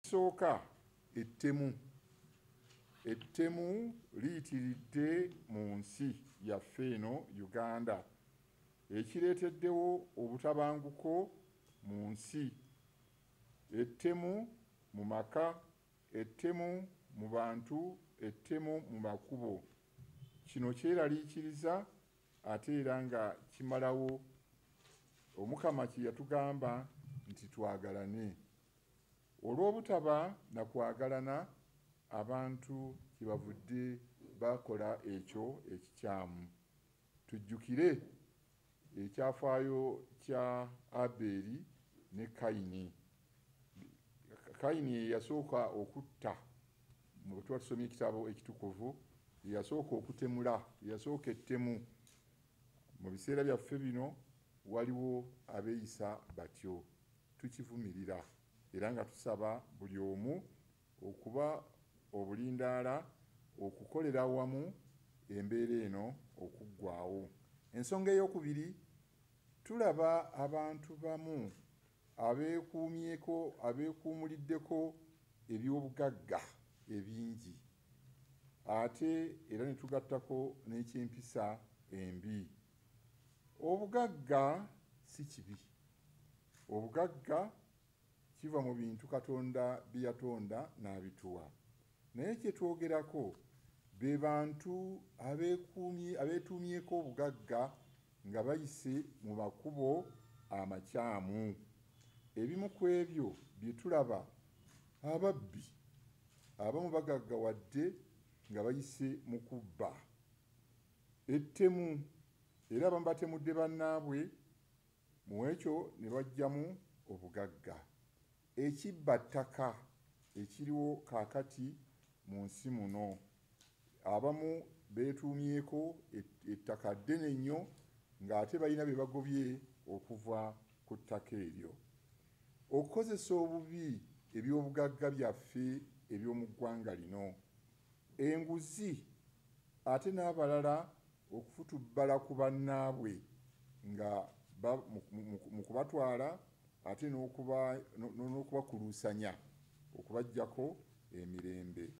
Sooka ettemu ettemu liyitiridde mu nsi yaffe eno Uganda ekireeteddewo obutabanguko mu nsi ettemu mu maka ettemu mu bantu ettemu mu makubo kino kyeraliikiriza ate era nga kimalawo omukama kye yatugamba nti twagalane Olw'obutaba na kwagalana, abantu kyebavudde bakola ekyo ekikyamu. Tujjukire ekyafaayo kya Aberi ne Kayini. Kayini yeyasooka okutta, bwetuba tusomye ekitabo ekitukuvu, yeyasooka okutemula, yeyasooka ettemu. Mu biseera byaffe bino waliwo abeeyisa batyo. Tukivumirira era nga tusaba buli omu okuba obulindaala okukolera awamu embeera eno okuggwaawo. Ensonga ey'okubiri, tulaba abantu bamu abeekuumyeko abeekuumuliddeko ebyobugagga ebingi ate era ne tugattako n'ekyempisa embi. Obugagga si kibi. Obugagga kiva mu bintu Katonda bye yatonda n'abituwa. Naye kye twogerako be bantu abeetuumyeko obugagga nga bayise mu makubo amakyamu. Ebimu ku ebyo bye tulaba Ababbi abamu bagaggawadde nga bayise mu kubba. Ettemu era abamu batemudde bannaabwe mu ekyo ne baggyamu obugagga. Ekibba ttaka ekiriwo kaakati mu nsi muno. Abamu beetuumyeko ettaka ddene nnyo ng'ate balina be bagobye okuva ku ttaka eryo. Okukozesa obubi eby'obugagga byaffe eby'omu ggwanga lino, enguzi ate n'abalala okufutubbala ku bannaabwe nga mu kubatwala ate n'okubakuluusanya okubaggyako emirembe.